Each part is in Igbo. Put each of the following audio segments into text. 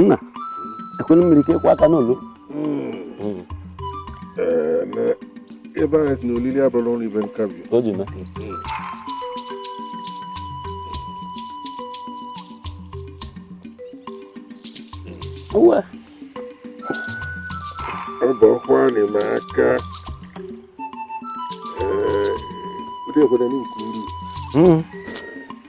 nna ekwelu mmiri ka ịkwụ aka n'olu ebe anyị si na olili abụrọ ọrụ ibe nkabi o ji mee uwe ọ bụ ọkwa anyị ma aka ee ụdị obodo anyị nke uru Mm.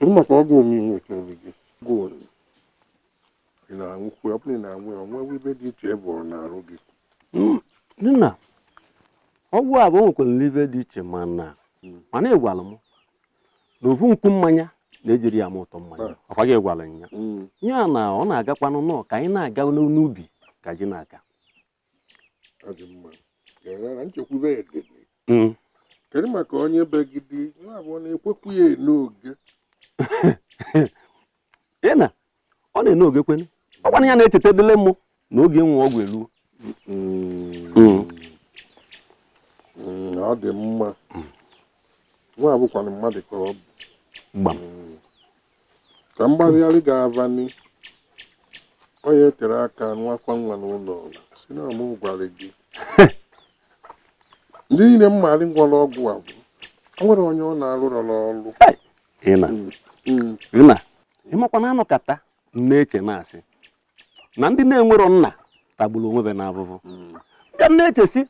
Uma kwa go mi nwe ke obi gị. Go ni. Ị na-anwụ kwa ọbụla ị na-anwụ ya o nwe ive dị iche bụ ọ na-arụ gị. Nna ọgwụ avụ nwekwara ive dị iche mana mana ị gwara m na ofu nkwu mmanya na e jirọ ya ama ụtọ mmanya ọkwa gị gwara ya ya na ọ na-agakwanụ nọ ka anyị na-aga n'ubi ka ji na-aka hmm. kedu maka onye begide abụọ na-ekwekwu ya n'oge ị na ọ na-ene oge kwene ọkwanụ ya na-echeta dịle mụ na oge ịnwụ ọgwụ eluo hmm. Hmm. Hmm, ọ dị mma nwa avụ kwanụ mmadụ ka ọ bụ Ka mgbagharị ga-avani, onye tere aka nwakwa nwa n'ụlọ ọla si na mụ gwara gị. Ndị niile m maara nwụrụ ọgwụ avụ o nwerọ onye ọ na-arụrọ n'ọrụ. Ịna Mm, ịna ịmakwa na m nọkata na-eche na-asị na ndị na-enwerọ nna tagburu onwe ve n'avụvụ mm, bịa m na-eche sị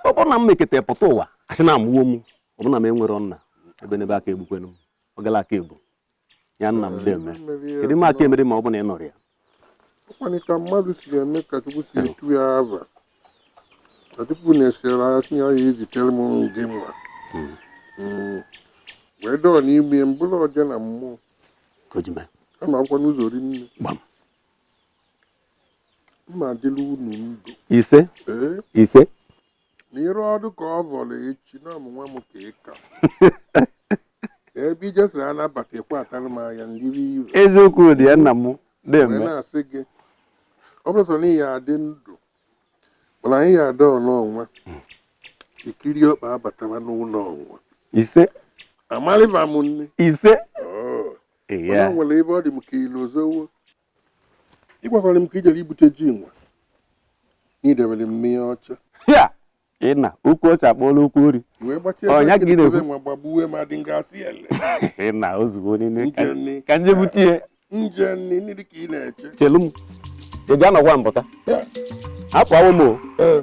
ọ bụrụ na m mekete pụta ụwa asị na amụwo m ọ bụrụ na m enwerọ nna ebe n'ebe a ka-egbukwenụ m ọ gala aka ebu ya nna m deme kedu ime aka emere ma ọ bụ na ị nọrọ ya ọkwanị ka mmadụ si eme ka chukwu si etu ya ava ka chukwu na-esere anya tinye ya ezitere m gị mma Mm. wee dọọ n'ime mbụrụ ọja na mmụọ ka o ji mee kama akwụkwọ n'ụzọ ri nne gbam mma adịla unu ndụ ise ee ise na ịrụ ọdụ ka ọ vọrọ echi na ọ mụnwa m ka ị ka ebe i jesịrị anabata ekwe atara m anya ndịrị ire eziokwu dị ya nna m wee na-eme na-asị gị ọ bụrụ sọ na ị ya adị ndụ mana anyị ya ada ọnụ ọnwa ikiri ọkpa abatawa n'ụlọ ọnwa ise amarịba m nne ise Oh. Mana ya o nwere ebe ọ dị m ka i lozowo ị gwakwara m ka i jere ibute ji nwa na i debere m n'ihe ọcha ya ịna ukwu ọcha akpọọla ukwu ori wee gbachie Ọ, ya ka ị na-ekwu. nwa gbagbuwe ma dị ngasị ele ịna ozugbo niile ka- Njenni. ka m je bute ihe nje nni nri dị ka ị na-eche chelu m ị bịa nọkwa mbụta Ya. hapụ awụ m o Ee.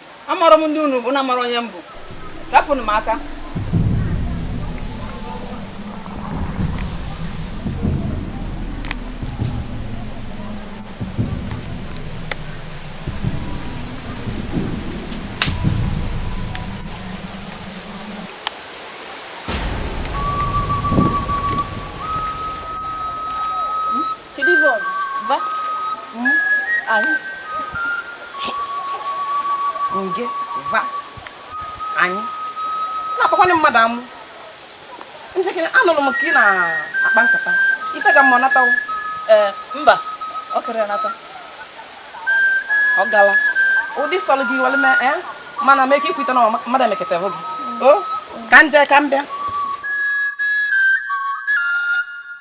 amarọ m ndị unu bụ unu amarọ onye m bụ rapụnụ m aka Kedu ibe ọgụ? Ba? M? Anyị? Nge? Va? Anyị? Na-akpakwana mmadụ amụ. Njekere, anụlụ m ka ị na-akpa nkata. Ife ga mma ọ natawo? Ee, mba. Ọ kere nata. Ọ gala. Ụdị sọlụ gị i were mee, ee? Mana mee ka i kwute na mmadụ emeketa hụ gị. O? Ka m je ka m bịa.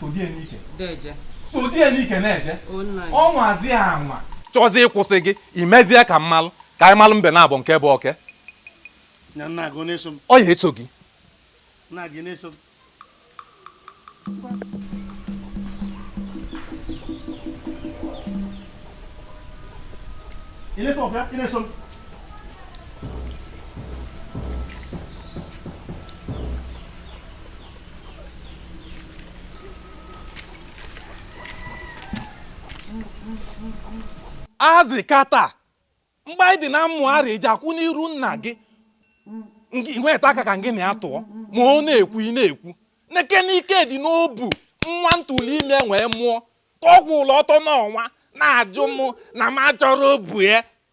sodie n'ike deje sodie n'ike na-eje o nna ya ọ nwazi ya anwa chọzi ịkwụsị gị imezie ka m malụ ka anyị malụ mbe naabọ nke bụ oke nya nna gị ọ na-eso m ọ ya eso gị nna gị na-eso m Ị na-eso ọbịa? Ị na-eso m? ahazi kata mgbe anyị dị na mmụ ara eji akwụ n'iru nna gị i nweta aka ka gị na ya tụọ ma ọ na-ekwu ị na-ekwu nekene ike dị n'obu nwa m tụlụ ime wee mụọ ka ọ kwụlụ ọtọ n'ọnwa na-ajụ mụ na m achọrọ obu ya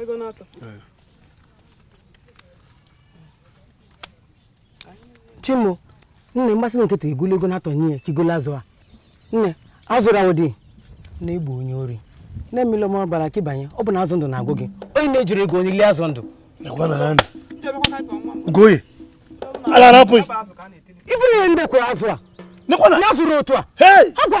ego n'ọtọ chi m o nne mgbasị na nkịta igolo ego n'atọ nye ya ka i golo azụ a nne azụrụ ahụ dị na-egbu onye ori na-emela m ọbala ka ịbanye ọ bụ na azụ ndụ na-agụ gị onye na-ejiri ego onye lie azụ ndụ goye ala arapụ ife ihe ndị kwụrụ azụ a na-azụrụ otu a agwa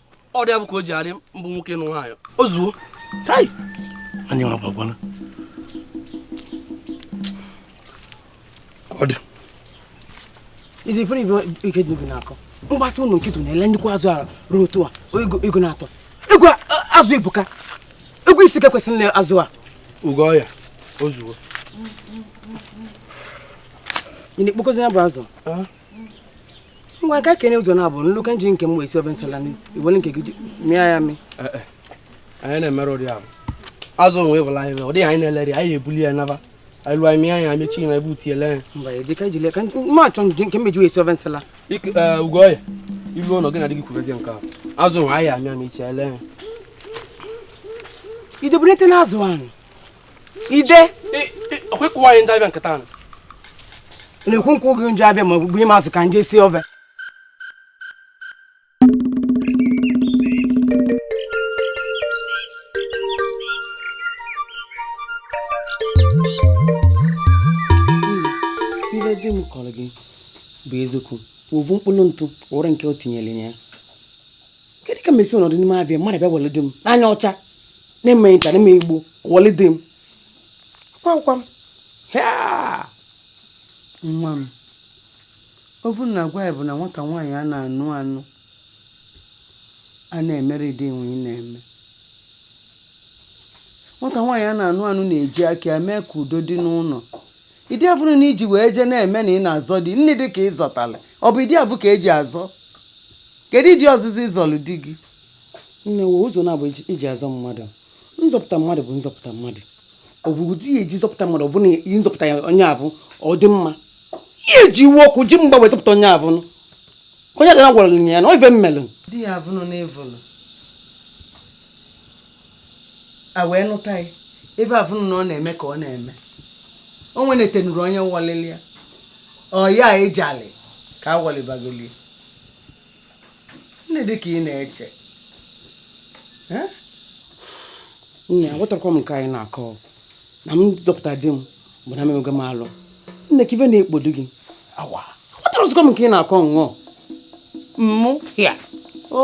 ọ dị abụ ka o ji arị mbụ nwoke nụ nwaanyị o zuo tai anyị nwa gbagwana ọ dị Iji fere ibe ike dị n'akọ mgbasị ụlọ nkịtụ na-ele nnukwu azụ a ruo otu a ego ego na-atọ ego a- a- azụ ebuka ego isii ka kwesịrị ile azụ a ugo ọya o zuo ị na-ekpokozi ya bụ azụ ngwa ka kene ụzọ naabọ nlụ ka m ji nke m wee si ofe nsala i were nke gị mịa ya mị eh, eh. anyị na-emere ụdị ahụ azụ onwe ịbụla anyị mee ụdị anyị na-eleri anyị ebuli ya naba anyị lụọ anyị anya mechi na ebe uti ele ma achọ nke mmeji wee si ofe nsala eh, ugo ọya ilu ụlọ gị na dị gị kwubezie nke ahụ azụ onwe anyị amịa mechi ele ya idobunete n'azụ ahụ ide ọkwa ịkụwa anyị ndị abịa nkịta ahụ na-ekwu nkwa oge nje abịa ma ọ bụ ịma azụ ka nje si ofe ife di m kọrọ gị bụ eziokwu ovu mkpụrụ ntụ wụrụ nke o tinyere ya kedu ka m esi anọdụ n'ime ife a mmadụ bịa wọlị di m n'anya ọcha na-eme nta na-eme igbo wọlị di m gwakwa m "Hea!" nwa m ife m na-agwa gị bụ na nwata nwaanyị a na-anụ anụ a na-emerọ ụdị ife ị na-eme nwata nwaanyị a na-anụ anụ na-eji aka ya mee ka udo dị n'ụnọ ụdị avụ na i ji wee jee na-eme na ị na-azọ di n'ụdị ka ị zọtala ọ bụ ụdị avụ ka eji azọ kedu ụdị ọzịzọ ị zọlụ di gị e nwe ụzọ naabọ e ji azọ mmadụ nzọpụta mmadụ bụ nzọpụta mmadụ ọ bụ ụdị e ji zọpụta mmadụ ọ bụla ịzọpụta ya onye avụ ọ dị mma ị ya-eji iwe ọkụ ji mgba wee zọpụta onye avụ onye adịna gwara ya na ọ ife melụ di ya avụ nọ n'evụlụ a wee nụta ya ife afụnụ na ọ na-eme ka ọ na-eme o nwenetenuru onye wọlịlị ya ọ ya ị jalị ka a wọlịbagolie n'ụdị ka ị na-eche Eh? nne aghọtarọkwa m nke a ị na-akọ na m zọpụta di m bụ na m emee alụ nne ke ife na-ekpodo gị awa aghọtarọzikwa m nke ị na-akọ nnọọ mmụ ya o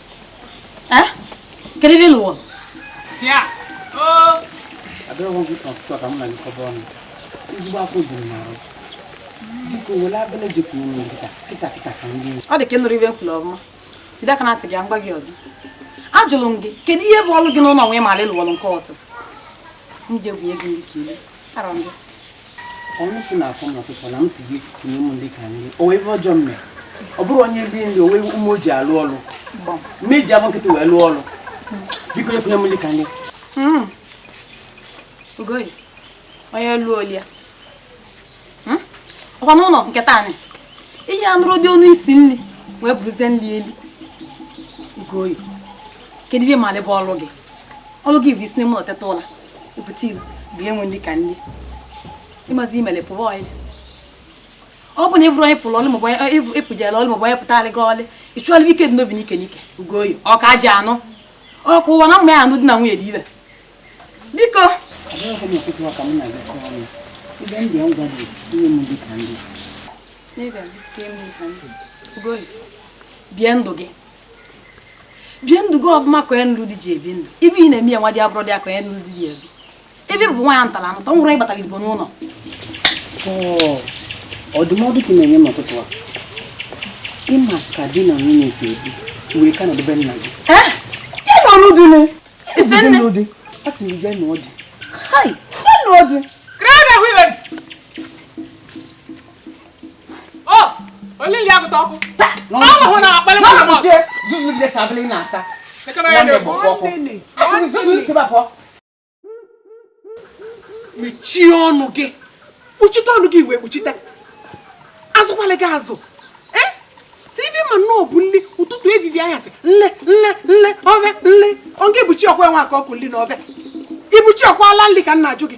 Eh? Kedu ebe ị lụ ọlụ? Ya. Oo. Abịaghị m gị n'ụtụtụ ka m na gị kọba ọnụ. Ezigbo afọ dị m n'arụ. Biko were abịala jepụ m nri kịta kịta kịta ka m lie ọ dị ka ị nụrọ ife m kwulu ọma jide aka na ntị gị ka m gwa gị ọzọ ajụlụ m gị kedu ihe bụ ọlụ gị n'ụnọ nụwa ị ma-alụ ọlụ nke ọtụ m je bunye gị nri ka i lie ọ bụrọ onye lie nri o nwee ume o ji alụ ọlụ m eji afọ nkịtị wee lụọ ọlụ biko kunye m nli ka m lie hmm. onye lụọ o lie ya hmm? ọkwa n'ụnọ nke taa anyị ihe anụrụ dị ọnụ isi nri wee bụrụzie nri eli Ugoye kedu ihe ị malị bụ ọlụ gị ọlụ gị bụ isi n'ime ụlọ teta ụla ebute ilu bịa wee nli ka ndị mazị i melie pụwa ọyị ọ bụ na ịbụrụ onye pụrụ ọlụ maọbụ ịpụjela ọlụ maọbụ onye butara gị nli ịchụọla ike dị n'obi n'ike n'ike Ugoye ọ ka ji anụ ọkụ ụwa na mma ya anụ di na nwunye dibe biko bie ndụ gị bie ndụ gị ọfụma ka onye nụrụ di ji ebi ndụ ive ị na-eme ya nwa dị abụrụ dị ya ka onye nụrụ di ji ebi ebe bụ nwa ya ntara ntọ nwụrụ ịbata gị n'ụlọ ndụmọdụ ka ị na-enye m ụtụtụ a ịma ka di na nwunye si ebi wee ka nọdebe nna gị ọrụ dị nụ isi nne di a sị m bịa nụọ di ha nụọ di olili ya gụta ọkụ ọnụhụ na-akpali mmadụ mmadụ jee zuzu dị sabili na asa nwanne bụ ọkụ asịrị zuzu isi bapọ mechie ọnụ gị kpuchite ọnụ gị wee kpuchite azụkwala gị azụ sọ ife ị ma nnọọ bụ nri ụtụtụ evivie anyasị nri nri nri ove nri ọ ga-ebuchi ọkwa enwe aka ọkụ nri na ove ibuchi ọkwa ala nri ka m na-ajụ gị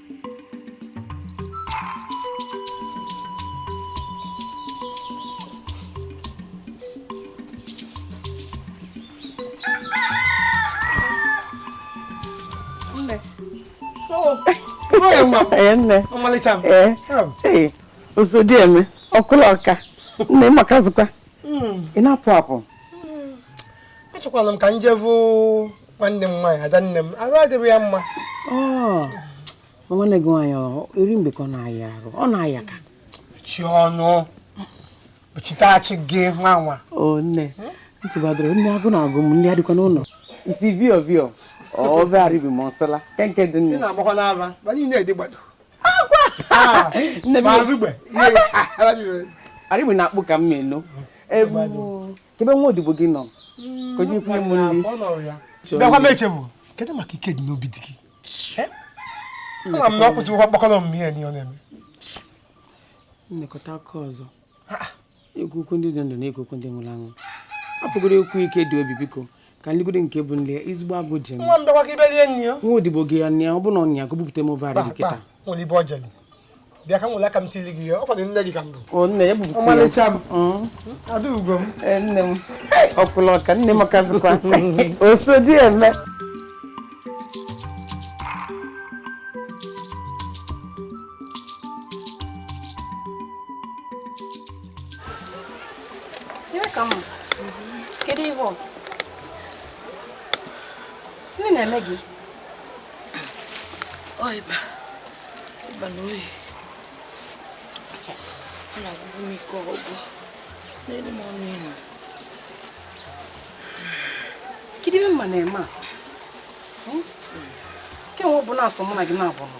ọmalịcha osodieme ọkwụlụ ọka nne ị makazikwa ị na-apụ apụ achọkwala m ka m jevụ nwanne m nwaanyị ada nne m arụ adịghị ya mma nwanne gị nwaanyị eri mgbe ka ọ na-aya arụ ọ na-aya ka chi ọnụ kpuchiteachi gị nwa nwa o nne ntị gbadoro nne agụ na-agụ m nne adịkwa n'ụlọ isi vio vio ove arịgbe m ọsala kenke dị nne na-agbakwa n'ara ma niile dị gbado nne m arịgbe na akpụ ka m na-eno kee ebe nwa odibo gị nọ ka o jiri kwunye m nri bịakwa m echefu kedu maka Ikedinobi di gị ama m na ọ kwụsịghịkwa mkpakọrọ omume ya n'ihe ọ na-eme nlekọta aka ọzọ ekwu okwu ndị dị ndụ na-ekwu okwu ndị nwụrụ anwụ hapụgodu okwu Ikediobi biko ka nlegodi nke bụ nne ya ezigbo agụ ji nwa m bịakwa ka ibe rie nri ya nwa odibo gị ya nne ya ọ bụrụ na ọnya ka o bupụta m ofe arịgbe kịta nwere ibe ọjọli bịa ka m nwere aka m tili gị ya ọ kwadoro nne gị ka m bụ o nne ya bupụta ya ọmalịcha m Mm. adaugo m Ee, nne m ọkwụlụ ọka nne ị makazikwa osodieme kedu ihe ọ bụ na-eme gị ịba ịba na oyi ọ na-agwụgwụ m ike ọgwụ na-elu m ọnụ inu kedu ihe mma na-eme a hmm? kemgbe ọ bụ na sọ mụ na gị naabọ nọ